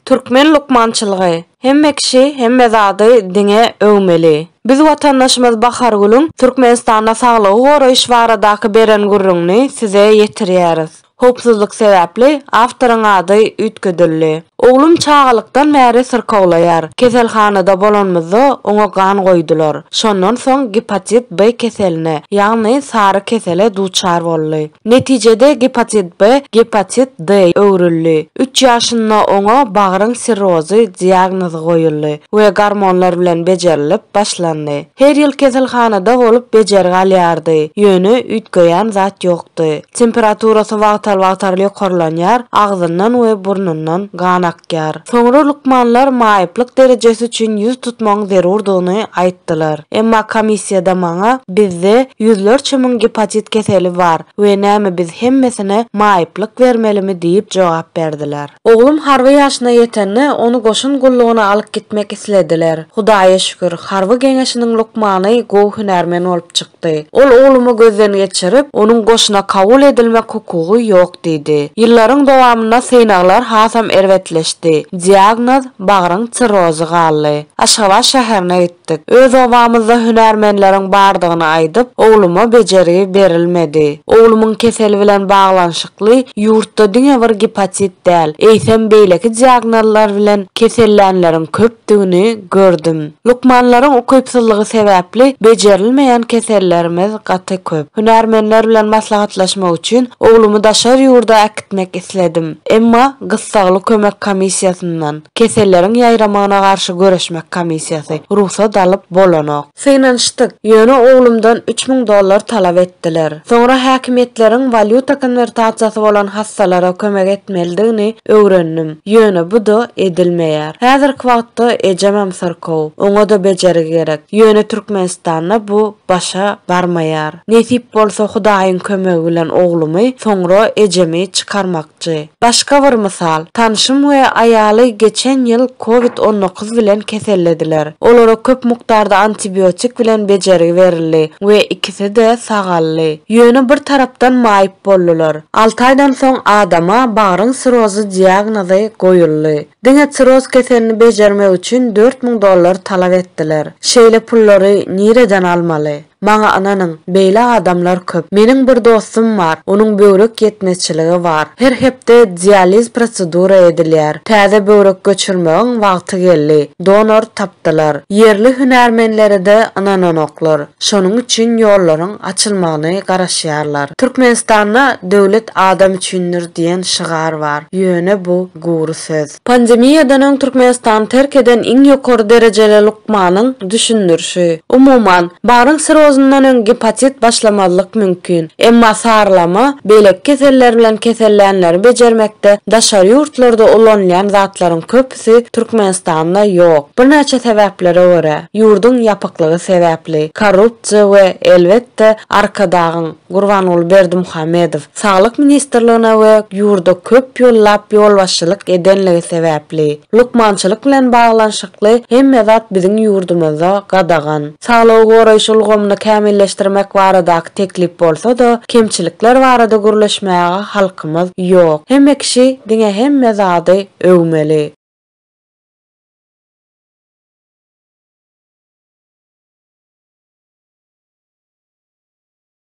Türkmen lukmançylygy, Hemme kişi hemme zady diňe öwmeli. Biz watandaşymyz Bahargülüň Türkmenistanda saglygy goraýyş baradaky beren gürrüňini size ýetirýäris. Howpsuzlyk sebäpli awtoryň ady üýtgedildi. Oglum çagalykdan bäri syrkawlaýar. Keselhanada bolanymyzda oňa gan goýdular. Şondan soň gepatit B keseline, ýagny sary kesele duçar boldy. Netijede gepatit B gepatit D öwrüldi. Üç ýaşynda oňa bagryň sirrozy diagnozy goýuldy we gormonlar bilen bejerilip başlandy. Her ýyl keselhanada bolup bejergi alýardy, ýöne üýtgeýän zat ýokdy. Temperaturasy wagtal-wagtal ýokarlanýar, agzyndan we burnundan gan akýar. Soňra lukmanlar maýyplyk derejesi üçin ýüz tutmagyň zerurdygyny aýtdylar. Emma komissiýada maňa, Bizde ýüzlerçe müň gepatit keseli bar we näme biz hemmesine maýyplyk bermelimi diýip jogap berdiler. Oglum harby ýaşyna ýetende, ony goşun gullugyna alyp gitmek islediler. Hudaýa şükür, harby geňeşiniň lukmany gowy hünärmen bolup çykdy. çykdy. Ol oglumy gözden geçirip, onuň goşuna kabul edilmek hukugy ýok diýdi. Ýyllaryň dowamynda synaglar hasam erbetleşdi. Diagnoz, bagryň sirrozy galdy. Aşgabat şäherine gitdik. Öz obamyzda hünärmenleriň bardygyny aýdyp, ogluma bejergi berilmedi. Oglumyň keseli bilen baglanyşykly ýurtda diňe bir gipatit däl, eýsem beýleki diagnozlar bilen kesellänleriň köp etdigini gördüm. Lukmanlaryň ukypsyzlygy sebäpli bejerilmeýän kesellerimiz gaty köp. Hünärmenler bilen maslahatlaşmak üçin oglumy daşary ýurda äkitmek isledim. Emma gyssagly kömek komissiýasyndan, Keselleriň ýaýramagyna garşy göreşmek komissiýasy, rugsat alyp bolanok. Synanyşdyk, ýöne oglumdan üç müň dollar talap etdiler. Soňra häkimiýetleriň walýuta konwertasiýasy bolan hassalara kömek etmelidigini öwrendim, ýöne bu-da edilmeýär. Häzirki wagtda ejemem syrkaw, oňa-da bejergi gerek, ýöne Türkmenistanda bu başa barmaýar. Nesip bolsa Hudaýyň kömegi bilen oglumy, soňra ejemi çykarmak. Ýaşajy. Başga bir mysal, tanşym we aýaly geçen ýyl covid on dokuz bilen kesellediler. Olara köp mukdarda antibiotik bilen bejergi berildi we ikisi-de sagaldy. Ýöne bir tarapdan maýyp boldular. Alty aýdan soň adama bagryň sirozy diagnozy goýuldy. Diňe siroz keselini bejermek üçin dört müň dollar talap etdiler. Şeýle pullary nireden almaly? Maňa ynanyň, beýle adamlar köp. Meniň bir dostum bar, onuň böwrek ýetmezçiligi bar. Her hepde dializ prosedura edilýär. Täze böwrek göçürmegiň wagty geldi. Donor tapdylar. Ýerli hünärmenlere-de ynananoklar. Şonuň üçin ýollaryň açylmagyny garaşýarlar. Türkmenistanda Döwlet adam üçindir diýen şygar bar. Ýöne bu gury söz. Pandemiýadan öň Türkmenistany terk eden iň ýokary derejeli lukmanyň düşündirişi. Umuman, baryň sirozyndan öň gepatit başlamazlyk mümkin. Emma sarylama beýleki keseller bilen kesellänleri bejermekde daşary ýurtlarda ulanylýan zatlaryň köpüsi Türkmenistanda ýok. Birnäçe sebäplere görä, ýurduň ýapyklygy sebäpli, korrupsiýa we, elbetde, Arkadagyň, Gurbanguly Berdimuhamedow Saglyk ministrligine we ýurda köp ýyllap ýolbaşçylyk edenligi sebäpli, Lukmançylyk bilen baglanyşykly hemme zat biziň ýurdumyzda gadagan. Saglygy goraýyş ulgamyny kämilleşdirmek baradaky teklip bolsa-da, kemçilikler barada gürleşmäge halkymyz ýok. Hemme kişi diňe hemme zady öwmeli.